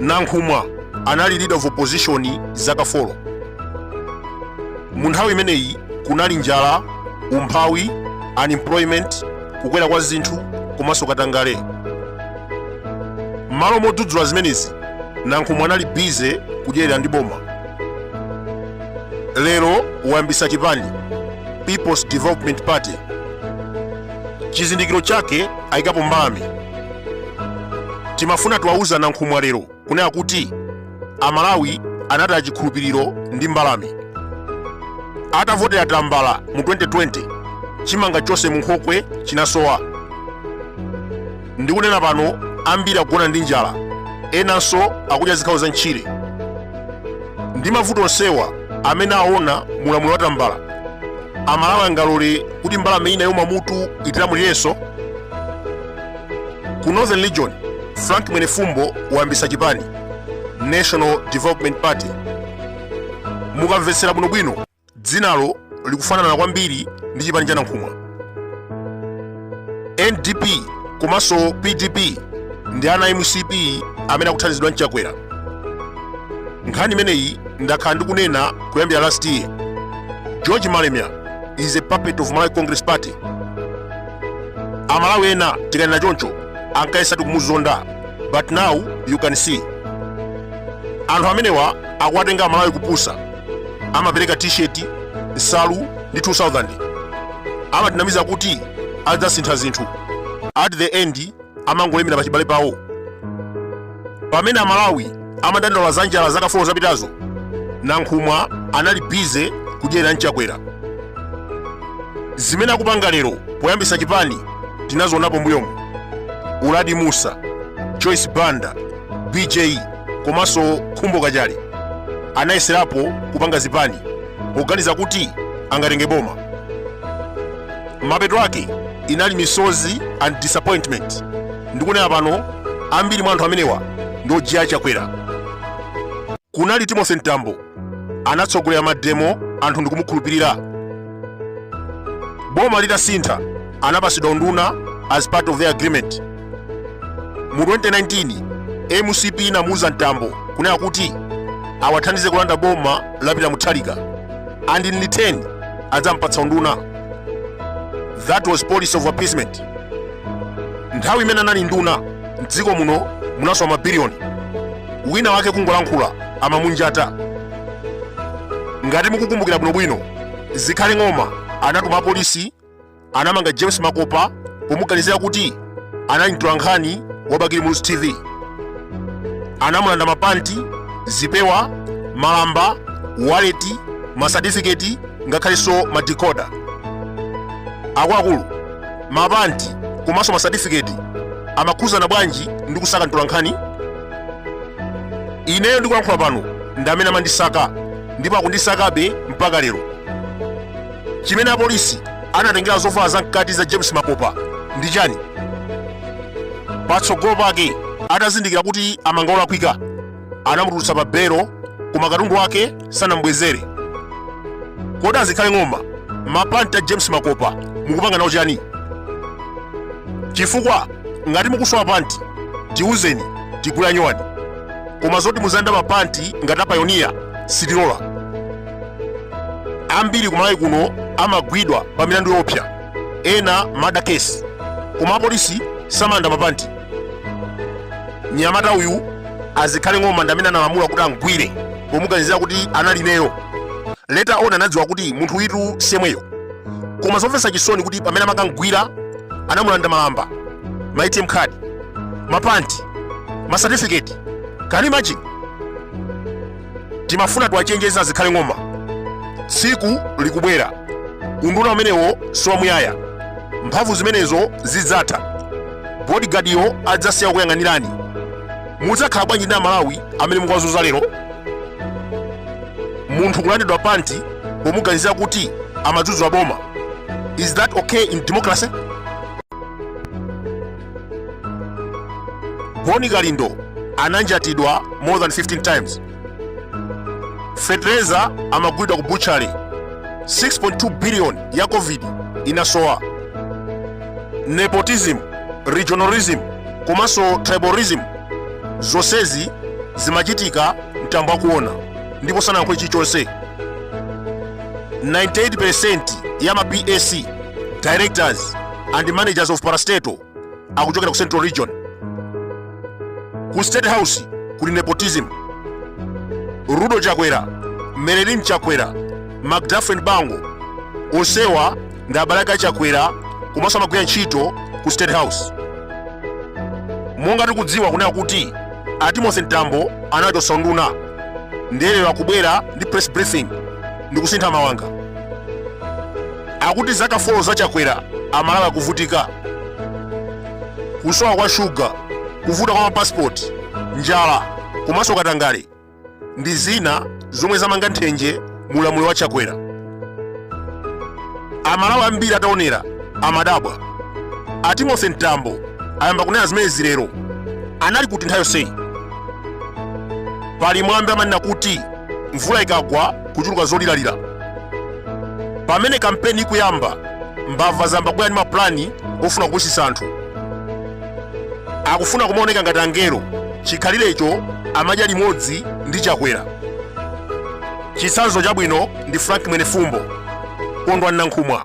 nankhumwa anali leader of opposition zaka 4 mu nthawi imeneyi kunali njala umphawi unemployment kukwera kwa zinthu komanso katangale m'malo modzudzula zimenezi nankhumwa anali bize kudyerera ndi boma lero wayambisa chipani peoples development party chizindikiro chake ayikapo mbalame timafuna tiwauze nankhumwa lero kunena kuti amalawi anataya chikhulupiriro ndi mbalame atavotera tambala mu 2020 chimanga chonse mu nkhokwe chinasowa ndikunena pano ambiri akugona ndi njala enanso akudya zikhawo za ntchire ndi mavuto onsewa amene aona mulamuliro wa tambala amalawi angalole kuti mbalame ina ya pamutu itilamulirenso ku northern region frank mwenefumbo wayambisa chipani national development party mukamvetsera bwinobwino dzinalo likufanana kwambiri ndi chipani cha nankhumwa ndp komanso pdp ndi ana a mcp amene akuthandizidwa ndi chakwera nkhani imeneyi ndakhala ndikunena kuyambira last year george malemya is a puppet of malawi congress party amalawi ena tikanena choncho ankayesa tikumuzonda but now you can see anthu amenewa akuwatenga amalawi kupusa amapereka t-shirt nsalu ndi 2000 amatinamiza kuti adzasintha zinthu at the end amangolemera pachibale pawo pamene amalawi amadandaula za njala zaka 4 zapitazo nankhumwa anali bize kudyerera ndi chakwera zimene akupanga lero poyambisa chipani tinazionapo mbuyomu uladi musa joyce banda bj komanso khumbo kachali anayeserapo kupanga zipani poganiza kuti angatenge boma Mapeto ake inali misozi and disappointment. Ndikunena pano ambiri mwa anthu amenewa ndi ojiya a Chakwera. Kunali Timothy Mtambo anatsogolera mademo anthu ndikumukhulupirira. Boma litasintha anapasidwa unduna as part of their agreement. mu 2019 mcp inamuuza mtambo kunena kuti awathandize kulanda boma la peter mutharika and in return adzampatsa unduna that was policy of appeasement nthawi imene anali nduna mdziko muno munasowa mabiliyoni wina wake kungolankhula amamunjata ngati mukukumbukira bwinobwino zikhale ng'oma anatuma apolisi anamanga james makopa pomuganizira kuti anali mtolankhani wa bakili muluzi tv anamulanda mapanti zipewa malamba waleti masatifiketi ngakhalenso madikoda. akuluakulu mapanti komanso masatifiketi amakhudzana bwanji ndi kusaka mtolankhani ineyo ndikulankhula pano ndi amene amandisaka ndipo akundisakabe mpaka lero chimene apolisi anatengera zovala zamkati za james makopa ndi chani patsogolo pake atazindikira kuti amanga olakwika anamutulutsa pa belo koma katundu wake sanamubwezere kodi azikhale ng'oma mapanti a james makopa mukupanga nawo chani chifukwa ngati mukusowa panti tiuzeni tigule a nyowani koma zoti muzilanda mapanti ngati apayoniya sitilola ambiri kumalawi kuno amagwidwa pa milandu yoopsa ena murder case koma apolisi samalanda mapanti mnyamata uyu azikhale ng'oma ndi amene analamula kuti amgwire pomuganizira kuti anali ineyo later on anadziwa kuti munthu uyutu si yemweyo koma zomvetsa chisoni kuti pamene amakamgwira anamulanda malamba ma atm card mapanti masatifiketi can you imagine timafuna tiwachenjeze a zikhale ng'oma tsiku likubwera unduna umenewo siwamuyaya mphamvu zimenezo zidzatha bodigadiyo adzasiya kukuyang'anirani mudzakhala bwanji ndi amalawi amene mukuwazunza lero munthu kulandidwa panti pomuganizira kuti amadzudzula boma is that okay in democracy bon kalindo ananjatidwa more than 15 times fetereza amagulidwa ku butchery 6.2 billion ya covid inasowa nepotism regionalism komanso tribalism zonsezi zimachitika mtambo akuona ndipo sanayankhule chilichonse 98% ya ma pac directors and managers of parastatal akuchokera ku central region ku state house kuli nepotism rudo chakwera marilyn chakwera mcdafren bango onsewa ndi abale ake achakwera komanso amagwira ntchito ku state house monga tikudziwa kunena kuti a timothy mtambo anawachotsa unduna ndiye lero akubwera ndi press briefing ndi kusintha mawanga Akuti zaka folo za Chakwera Amalawi akuvutika. Kusowa kwa shuga, kuvuta kwa mapasipoti, njala komanso katangale ndi zina zomwe zamanga nthenje mu ulamuliro wa Chakwera. Amalawi ambiri ataonera amadabwa. A Timothy Mtambo ayamba kunena zimenezi lero. Anali kuti nthawi yonseyi? Pali mwambi amanena kuti mvula ikagwa kuchuluka zoliralira. pamene kampeni ikuyamba mbava zayamba kubwera ndi mapulani ofuna kupusitsa anthu akufuna kumaoneka ngati angelo chikhalirecho amadya limodzi ndi chakwera chitsanzo chabwino ndi frank mwenefumbo kondwani nankhumwa